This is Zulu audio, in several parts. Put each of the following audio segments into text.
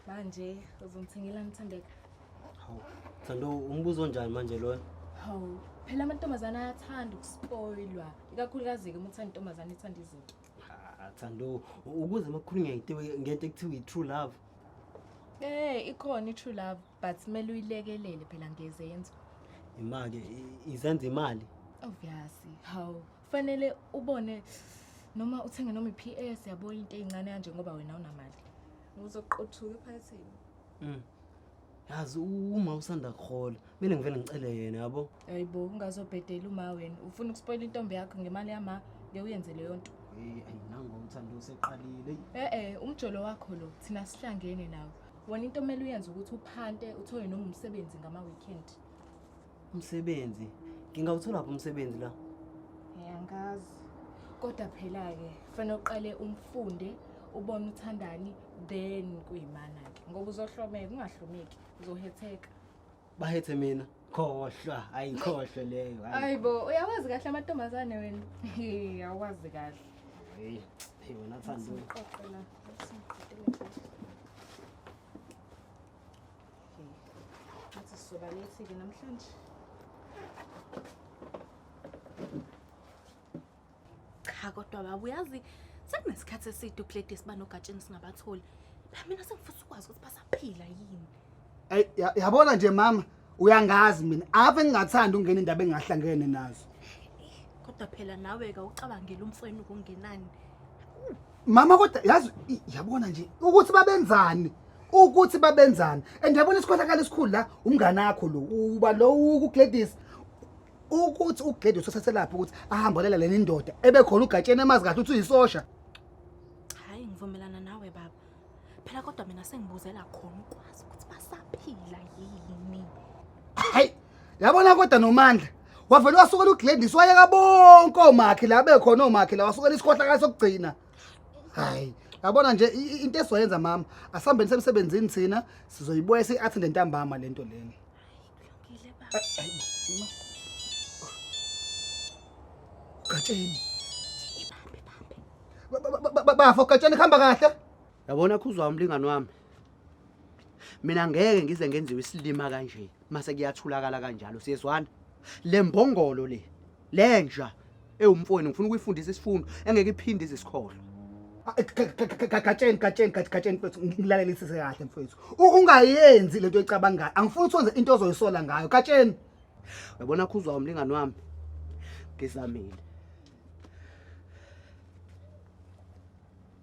manje uzongithengela ngithembeka hawu thando umbuzo onjani manje loyo hawu phela amantombazane ayathanda ukuspoilwa ikakhulukazi-ke uma uthanda intombazane ithanda izinto Ah, thando ukuze makukhulu ngento ngento ekuthiwa i-true love Eh ikhona i-true love but kumele uyilekelele phela ngezenzo. Imake izenza imali. Obviously. Hawu, kufanele ubone noma uthenge noma i-PS yabo into ezincane kanje ngoba wena unamali ngizoqothuka ephakathini mm. yazi uma usanda kuhola mina ngivele ngicele yena yabo hayibo ungazobhedela uma wena ufuna ukuspoyila intombi yakho ngemali yama ke uyenze leyo nto hey ayinango umthando useqalile eh eh umjolo wakho lo thina sihlangene nawe wona into omele uyenze ukuthi uphante uthole noma umsebenzi ngama weekend Umsebenzi. Ngingawuthola phi umsebenzi la? Ngiyangazi. Kodwa phela ke fanele uqale umfunde ubone uthandani then kuyimana ke ngoba uzohlomeka ungahlomeki uzohetheka. Bahethe mina. Khohlwa, ayikhohlwe leyo. Hayibo, uyawazi kahle amantombazane wena. Uyawazi kahle. Hey, hey wena thanda. Uqoqela. ngathi sizoba late-ke namhlanje cha kodwa baba uyazi sekunesikhathi eside ukuleti siba nogatsheni singabatholi mina sengifisa ukwazi ukuthi basaphila yini Ay, ya- yabona nje mama uyangazi mina ave ngingathanda ukungena indaba engahlangene nazo kodwa phela nawe-ke ucabangela umfweni kungenani mama kodwa yazi i- yabona nje ukuthi babenzani ukuthi babenzani and yabona isikhohlakala esikhulu la umngane akho lo uba lo ukugladys ukuthi ugladys usaselaphi ukuthi ahambolela leni ndoda ebekhona ugatsheni emazi kahle ukuthi uyisosha hayi ngivumelana nawe baba phela kodwa mina sengibuzela khona ukwazi ukuthi basaphila yini hayi yabona kodwa nomandla wavele wasukela ugladys wayeka bonke oomakhi la bekhona oomakhi la wasukela isikhohlakala sokugcina hayi yabona nje i- i- into esizoyenza mama asihambeni semsebenzini thina sizoyibuya siyi-athende ntambama le nto leni Ngile baba. gatsheni Ba- ba- ba- ba- bafo gatsheni kuhamba kahle yabona khuzwa umlingani wami mina ngeke ngize ngenziwe isilima kanje mase kuyathulakala kanjalo siyezwana le mbongolo le lenja ewumfowenu ngifuna ukuyifundisa isifundo engeke iphinde izisikhohlwe gatsheni gatsheni gatsheni mfethu ngilalelisise kahle mfethu ungayenzi lento ecabangayo angifuni ukuthi wenze into ozoyisola ngayo gatsheni uyabona khuzwa umlingani wami ngizamile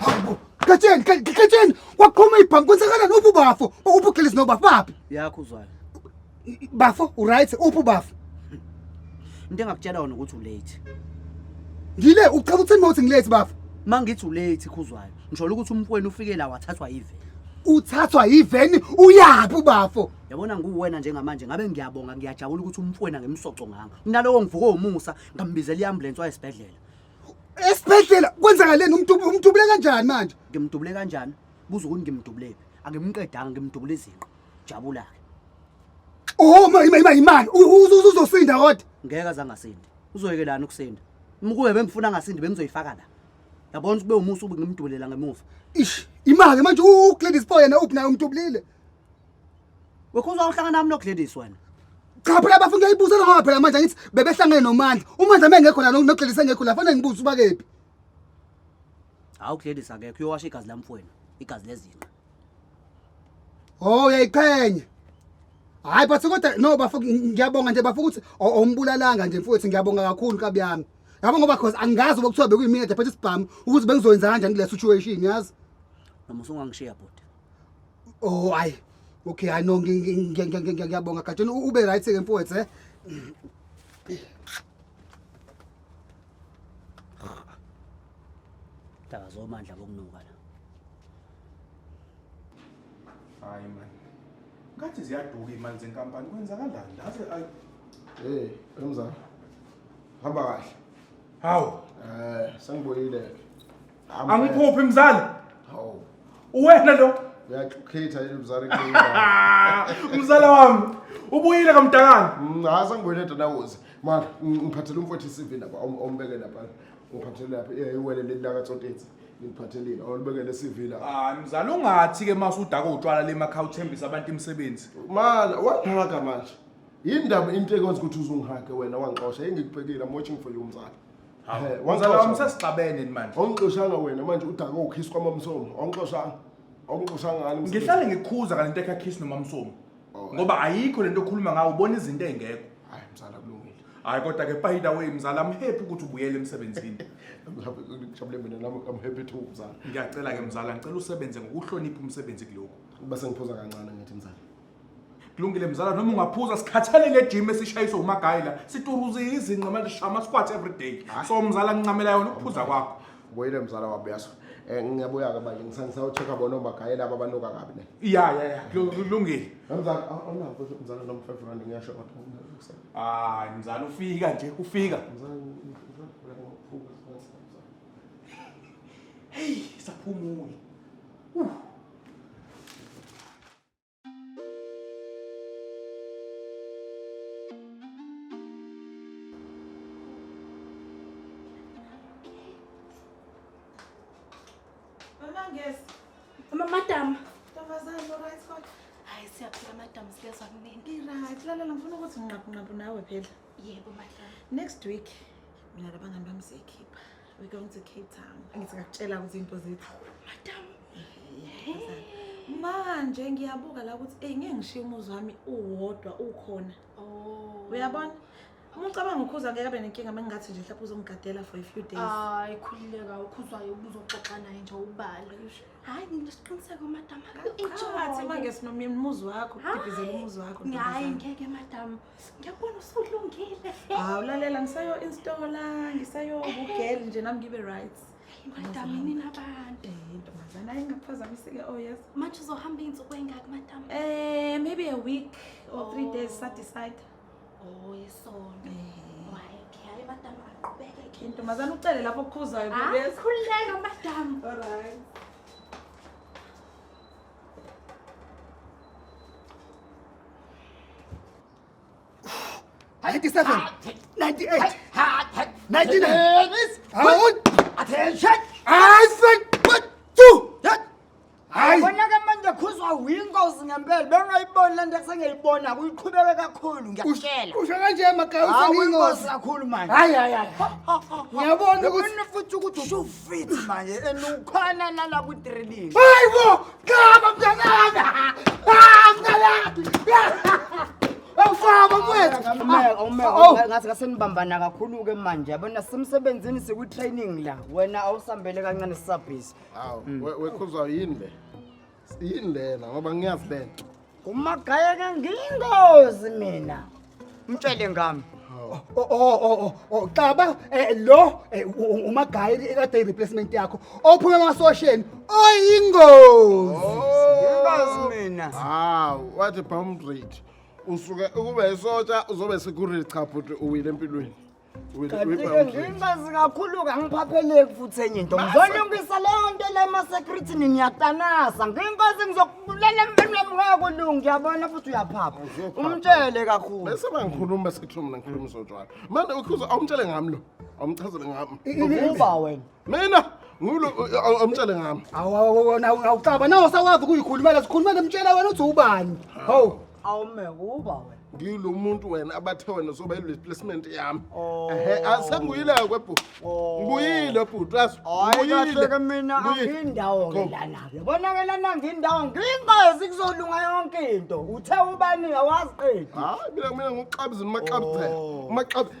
Hawu, gatsheni, ga- gatsheni. Waqhuma ibhanki kwenzakalani uphi ubafo? Uphi uGilisi nobafo baphi? yakho uzwayo Bafo, uright, uphi ubafo? into engakutshela yona ukuthi ulate Ngile ucela ukuthi mawuthi ngilate bafo. uma ngithi ulate khuzwayo ngisholo ukuthi umfweni ufike la wathathwa yive Uthathwa yiveni uyaphi ubafo? yabona nguwena njengamanje ngabe ngiyabonga ngiyajabula ukuthi umfweni angemsoco nganga nalowo ngivuke umusa ngambizela i-ambulensi wayesibhedlela esibhedlela kwenzakaleni umdubu umdubule kanjani manje ngimdubule kanjani buza ukuthi ngimdubulele angimqedanga ngimdubule izinqa jabula ke oh ma ima ima imani uzosinda kodwa ngeke azangasindi uzoyekelana ukusinda mkuwe bengifuna ngasindi bengizoyifaka la yabona ukuthi bewumusa ube ngimdubulela ngemuva ish imake manje uGladys Boy yena uphi naye umdubulile Wekhuzwa uhlangana nami noGladys wena. Cha phela bafuna uyayibuza ngoba phela manje ngithi bebehlangene noMandla. UMandla mengekho la noGladys engekho la fanele ngibuze uba kephi. Hawu Gladys akekho uyowasha igazi lamfweni, igazi lezinqa. Oh uyayiqhenya. Hayi but kodwa no bafo ngiyabonga nje bafo ukuthi awumbulalanga nje mfowethu ngiyabonga kakhulu kabi yami. Yabo ngoba cause angazi ukuthiwa bekuyimina the phethe isibhamu ukuthi bengizoyenza kanjani kule situation yazi. Noma usungangishiya bhuti. Oh hayi. Okay, hayi no ngiyabonga Gatsheni ube right ke mfowethu eh. Daka zomandla bokunuka la. Hayi man. Ngathi ziyaduka imali zenkampani kwenzakalani? Ngathi ay Eh, emzala. Hamba kahle. Hawu, Eh, sengibuyile. Hamba. angiphuphi mzali Hawu. uwena lo Uyaxukhetha yini mzali kuleyo. mzala wami ubuyile kamdakana Mm, Hayi sangibuyele dadawuzi. Manje ng- ngiphathele umfowethu iCV lapha om- ombeke lapha. Ngiphathele lapha eh, iwele leli laka Tsotetse. Ngiphathelile olubekele iCV lapha. hayi mzali ungathi ke mase udaka utshwala le makha uthembisa abantu imisebenzi Mana wangihaka manje. Yindaba into ekwenza ukuthi uzungihake wena wangixosha engikubhekile I'm watching for you mzali. Hawu, Eh, wangixosha. mzala wami sesixabene ni manje awungixoshanga wena manje udake ukhisi kwamamsomo awungixoshanga awungixoshanga ngani msebenzi? ngihlale ngikhuza kale nto ekhakhisi nomamsomo Oh, ngoba ayikho le nto okhuluma ngawo ubona izinto ey'ngekho hayi mzala kulungile hhayi kodwa-ke by the way mzala amhephi ukuthi ubuyele emsebenzini I'm happy- ngijabule mina nami I'm happy too mzala ngiyacela-ke mzala ngicela usebenze ngokuhlonipha umsebenzi kulokhu uba sengiphuza kancane ngithi mzala kulungile mzala noma ungaphuza sikhathele le gym esishayiswa umagayi la situruza izinqa manje shama squat every day so mzala ngincamela yona ukuphuza kwakho boyile mzala wabo yaso um ngiyabuya ke manje ngisawuchekha bona omagayi laba banuka kabi ne ya ya ya lu- kulungile mzala awunawo futhi mzala noma five rand ngiyasho kodwa hayi mzala ufika nje ufika mzala heyi saphumule madam ntombazane oright kodwa hayi siyaphila madam siyezwa kunini iright lalela ngifuna ukuthi nginqabunqabu nawe phela yebo madam next week mina labangani bami siyayikhipha we going to cape town angithi ngakutshela ukuthi into zethu madam manje ngiyabuka la ukuthi eyi ngeke ngishiye umuzi wami uwodwa ukhona oh. uyabona uma ucabanga ukhuza ngeke abe nenkinga uma ngingathi nje mhlawumbe uzongigadela for a few days hayi khululeka ukhuzwayo ubuzoxoxa naye nje ubale hayi nginesiqiniseko madam enjoy uma ngesinomyeni umuzi wakho kudibizela umuzi wakho hayi ngeke madam Ngiyabona usulungile. Hawu lalela ngisayo installa, ngisayo ubugel nje nami ngibe right. Ngadamini nabantu. Eh ntombazana ayingaphazamisile oh yes. Manje uzohamba insuku engaki madam? Eh maybe a week or 3 oh. days sa decide. Oh isonto. Eh. Why? Hayi madam aqhubeke ke. Ntombazana ucele lapho okhuzayo ah, bese. Akhululeka madam. All right. 97 98 Bonake manje khuzwa winkosi ngempela bengayiboni lento esengiyibona kuyiqhubeke kakhulu ngiyakutshela. Usho kanje magawusa Hawu inkosi kakhulu manje. Hayi hayi hayi. Ngiyabona ukuthi futhi ukuthi fit manje and ukhona lala ku training hayi bo qaba mntanami ah mntanami awufaba mfethu Awumeka, awumeka, Oh. awumeka. ngathi kasenibambana kakhulu-ke manje yabona simsebenzini sikwi-training la wena awusambele kancane sisabhizi awu we- wekhuzwa yini le yini lena ngoba ngiyazi lena umagaya ke ngingozi mina mtshele ngami Oh, oh, oh, oh, oh, xaba eh, lo eh, u- u- umagayi ekade i-replacement yakho ophume emasosheni oyingozi ngingozi mina hawu wathi bomb rate usuke ukube isotsha uzobe security cha bhuti uwile empilweni kanti-ke ngiyinkazi kakhulu-ke angiphapheleki futhi enye into ngizolungisa leyo nto le emasekrithini ngiyatanasa ngiyinkazi ngizokubulala empini wami ngakulungu ngiyabona futhi uyaphapha umtshele kakhulu bese bangikhuluma sekuthiwa mina ngikhuluma izotshwala manje ukhuza awumtshele ngami lo awumchazele ngami uba wena mina ngulo amtshele ngami awona awucaba nawo sakwazi ukuyikhulumela sikhulumele mtshela wena uthi ubani hawu awume uba wena ngilo muntu wena abathe wena soba replacement yami oh. ehe asenguyile ke bhuti oh. ngibuyile bhuti as ngibuyile ke mina angindawo ngelana ke bonakela nangindawo ngingazi kuzolunga yonke into uthe ubani awazi qedi hayi mina mina ngoxabizini maxabizela oh. maxabizela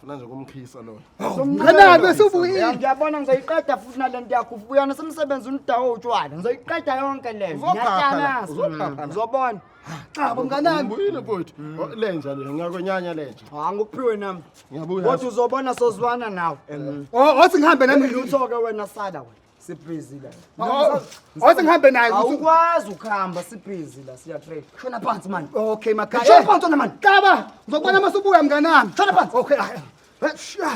Funa nje kumkhisa lo. Ngena bese ubuyile. Ngiyabona ngizoyiqeda futhi nalento yakho ubuyana semsebenzi unidawo utshwala. Ngizoyiqeda yonke le. Ngiyahlala. Uzobona. Cha bomnganami. Ngibuyile futhi. Lenja le ngiyakwenyanya lenja. Ha ngikuphiwe nami. Ngiyabuya. Kodwa uzobona sozwana nawe. Oh, othi ngihambe nami lutho ke wena sala wena. sibhizi la Oh, wathi ngihambe naye ukuthi- awukwazi ukuhamba sibhizi la siyatrade shona phansi mani okay makhaya Shona phansi wena mani qaba ngizokubona uma usubuya mnganami shona phansi okay ah, eh, sha.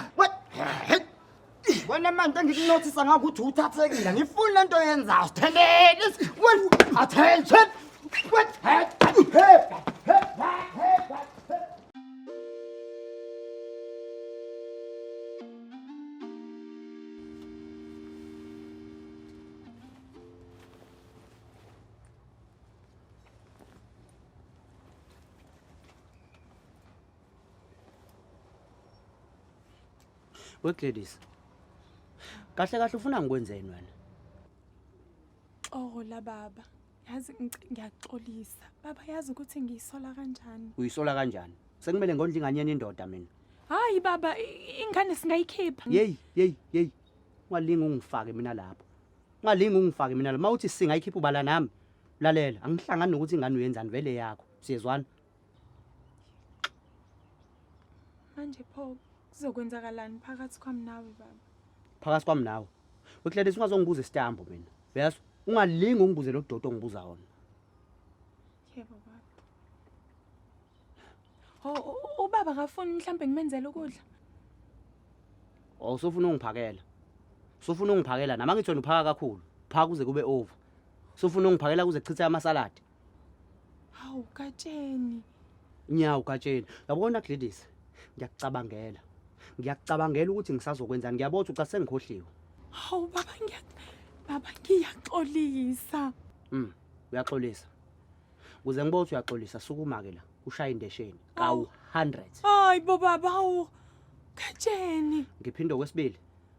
wena manje engikunothisa ngakho ukuthi uthathekile ngifuni le nto yenzayo sithelele attention wegladys kahle kahle ufuna ngikwenzeni wena xola baba yazi ngic- ngiyaxolisa baba yazi ukuthi ngiyisola kanjani uyisola kanjani sekumele ngondla ingane yena indoda mina hayi baba i- ingane singayikhipha yeyi yeyi yeyi ungalingi ungifake mina lapho ungalingi ungifake mina lapho uma uthi singayikhipha ubala nami lalela angihlangani nokuthi ingane uyenzani vele yakho siyezwana manje pho kuzokwenzakalani phakathi kwami nawe baba phakathi kwami nawe wekladesi ungazongibuza isitambo mina uyazi ungalingi ungibuze lo dodo ongibuza wona yebo baba ho ubaba akafuni mhlawumbe ngimenzele ukudla o oh, sofuna ungiphakela sofuna ungiphakela nama ngithona uphaka kakhulu phaka kuze kube over sofuna ungiphakela kuze chithe amasaladi Hawu Katsheni. Nyawo Katsheni. Yabona Gladys, ngiyakucabangela. Ngiyakucabangela ukuthi ngisazokwenzani. Ngiyabona ukuthi ucathi sengikhohliwe. Hawu baba ngiya baba ngiyaxolisa. Mm, uyaxolisa. Kuze ngibone ukuthi uyaxolisa sukuma ke la. Ushaya indesheni kawu 100. Hayi bo baba hawu. Katsheni. Ngiphinde okwesibili.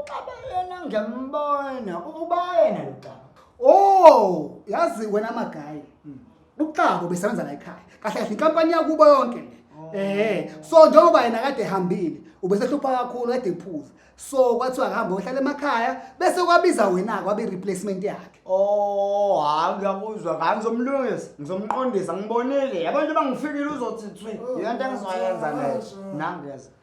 uxaba yena ngiyambona uba yena lo xaba oh yazi wena magayi hmm. uxaba ubesebenza la ekhaya kahle kahle inkampani yakubo yonke le oh. eh so njengoba yena kade ehambile ubesehlupha kakhulu kade ephuza so kwathiwa akahambe ohlala emakhaya bese kwabiza wena kwabe replacement yakhe oh hayi ngiyakuzwa ngani ngizomlungisa ngizomqondisa ngibonile abantu abangifikile uzothi thwi yonto engizoyenza leyo nangeza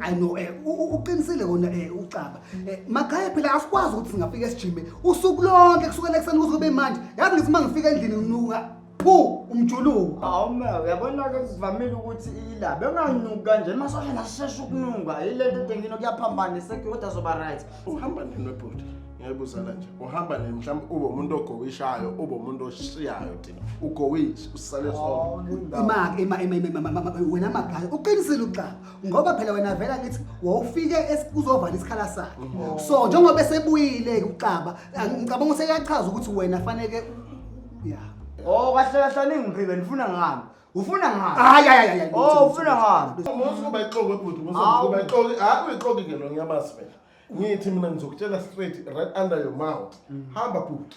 I know eh u- uqinisile kona eh ucaba. Eh makhaya phela asikwazi ukuthi singafika esijime usuku lonke kusukela ekuseni kuze kube manje. Yazi ngithi uma ngifika endlini nginuka phu umjuluko. Hawu ma uyabona-ke sivamile ukuthi ila benganuki kanje masosha nasishesha ukunuka yilento edengino kuyaphambana isekhe kodwa zoba right uhamba nini webhuti ngiyayibuzela nje uhamba nini mhlawumbe ube umuntu ogowishayo ube umuntu oshiyayo ugowinji usale wena magaya uqinisile uxa ngoba phela wena vela ngithi wawufike uzovala isikhala sakhe oh. so njengoba esebuyile-ke uxaba ngicabanga useyachaza ukuthi wena faneke ya o kahle kahle aningiphibe ndifuna ngami ufuna ngani hayi hayi hayi oh ufuna ngani musu kuba ixoki ebhuti musu kuba ixoki hayi uyixoki ke lo nyabazi phela ngithi mina ngizokutshela straight right under your mouth mm. hamba bhuti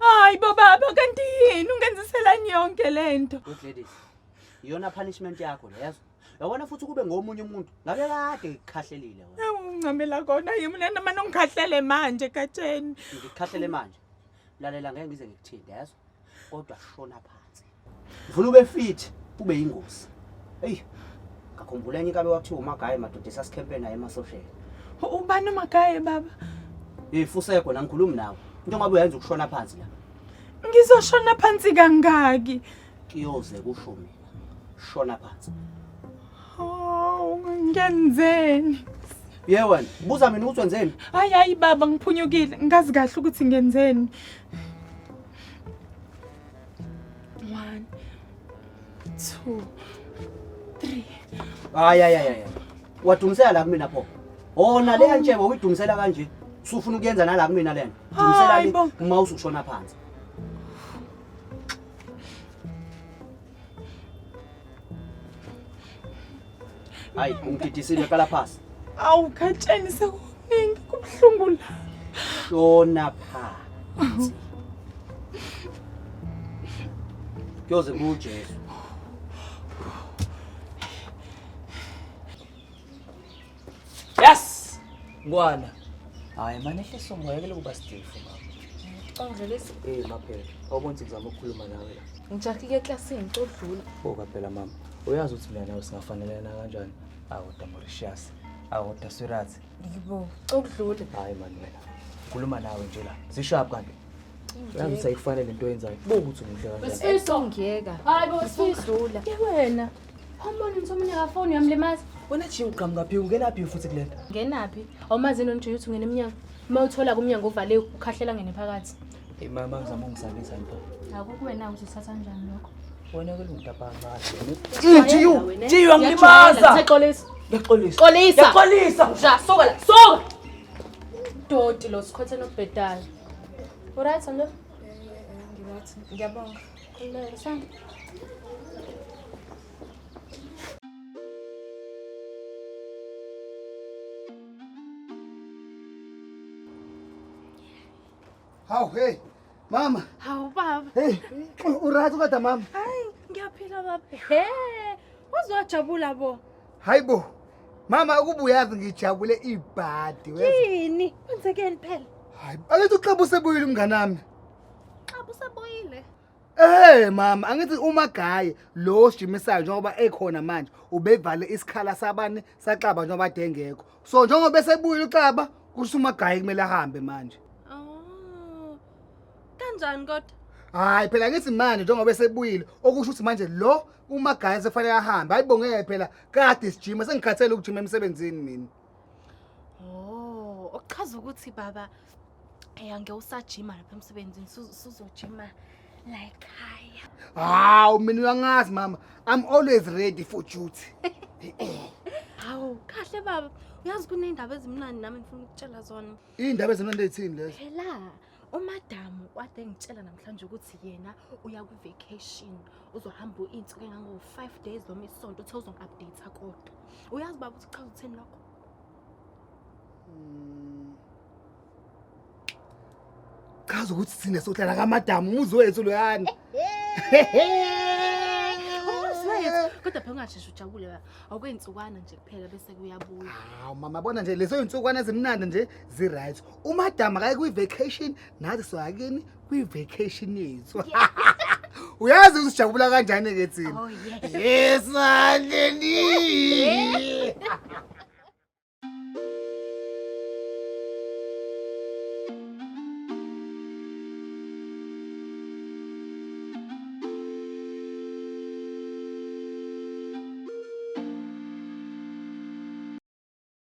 Hayi bo baba kanti yini ungenziselani yonke le nto? Ugladys. Iyona punishment yakho le yazo. Yabona futhi kube ngomunye umuntu. Ngabe kade ngikhahlelile wena. Ewu ungcamela kona yimi lena manje ungikhahlele manje Gatsheni. Ngikhahlele manje. Lalela ngeke ngize ngikuthinde yazo. Kodwa shona phansi. Ngifuna ube fit, ube yingozi. Eyi, ngakhumbula enye kabe wathiwa umagaye madoda esasikhempe naye emasosheni. Ubani umagaye baba? Eh, fuseko la ngikhulumi nawe. Into ngabe uyenza ukushona phansi la. Ngizoshona phansi kangaki? Kiyoze kusho mina. Shona phansi. Oh, ngenzeni? Ye wena, buza mina ukuthi wenzeni? Hayi hayi baba ngiphunyukile, ngazi kahle ukuthi ngenzeni. One, two, three. Hayi hayi hayi. Wadumisela la kumina pho. Ona le ntshebo uyidumisela kanje. Usufuna ukuyenza nala kumina lena. Dumisela le uma usushona phansi. Hayi ungididisile qala phasi. Awu khatsheni sekuningi kubuhlungu la. Shona phansi. Kuyoze kuJesu. Yes! Ngwana. Hayi manje ehlisa umoya ke lokuba stifu mama. Ongvelisi. Eh maphela. Awubonzi ngizama ukukhuluma nawe la. Ngijaki ke classini codlula. Boka phela mama. Uyazi ukuthi mina nawe singafanelana kanjani? Awu Damoricious. Awu Daswirathi. Yibo. Codlula. Hayi manje wena. Khuluma nawe nje la. Sishap kanti. Uyazi sayifane lento yenzayo. Bokuthi umuhle kanjani. Besifiso ngiyeka. Hayi bo sifisula. Ke wena. Umbona ukuthi omunye akafoni uyamlimaza. Wena Jim uqhamuka phi ungena phi futhi kulento? Ngenaphi? Awumazi yini nje ukuthi ungena emnyango. Uma uthola kumnyango uvale ukhahlela ngene phakathi. Hey mama ngizama ungisabisa nto. Akukuwena uzothatha kanjani lokho? Wena ke luntabangase. Jiyu, jiyu angilimaza. Ngixolisa. Ngixolisa. Xolisa. Ngixolisa. Ja, soka la. Soka. Doti lo sikhothe nobhedayo. Uright nto? Ngirathi. Ngiyabonga. Hawu hey mama. Hawu baba. Hey uright kodwa mama? Hayi ngiyaphila baba. He uzojabula bo. Hayibo. Mama ukubuyazi ngijabule ibhadi wena. Yini? Kwenzekeni phela? Hayi, akethi uxabuse buyile umnganami. Xa busaboyile. Eh mama angithi uma gaye lo osijimisayyo njengoba ekhona manje ubevale isikhala sabani saxaba njengoba ade engekho. So njengoba esebuyile uxaba kusho uma gaye kumele ahambe manje. Oh. Kanjani kodwa? Hayi phela ngithi manje njengoba esebuyile okusho ukuthi manje lo uma gaye sefanele ahambe. Hayibo ngeke phela kade sijima sengikhathele ukujima emsebenzini mina. Oh, okuchaza ukuthi baba eyange usajima lapha emsebenzini suzojima la ekhaya. Hawu mina uyangazi mama. I'm always ready for duty. Hawu kahle baba. Uyazi kunendaba ezimnandi nami ngifuna ukutshela zona. Indaba ezimnandi ezithini lezo? Phela umadamu wade engitshela namhlanje ukuthi yena uya kwi-vacation uzohamba iy'nsuku engango-five days noma isonto uthe uzongi-update-a kodwa uyazi baba ukuthi chaza utheni lokho hmm. chaza ukuthi thina sohlala kamadamu umuzi wethu loyani kodwa phela ungasheshe ujabule ba awukuyintsukwana nje kuphela bese kuyabuya hawu mama bona nje leso yintsukwana ezimnandi nje zi-right umadam akaye kwi-vacation nathi soyakini kwi-vacation yethu uyazi usijabula kanjani ke thina Oh, yes. yes aleni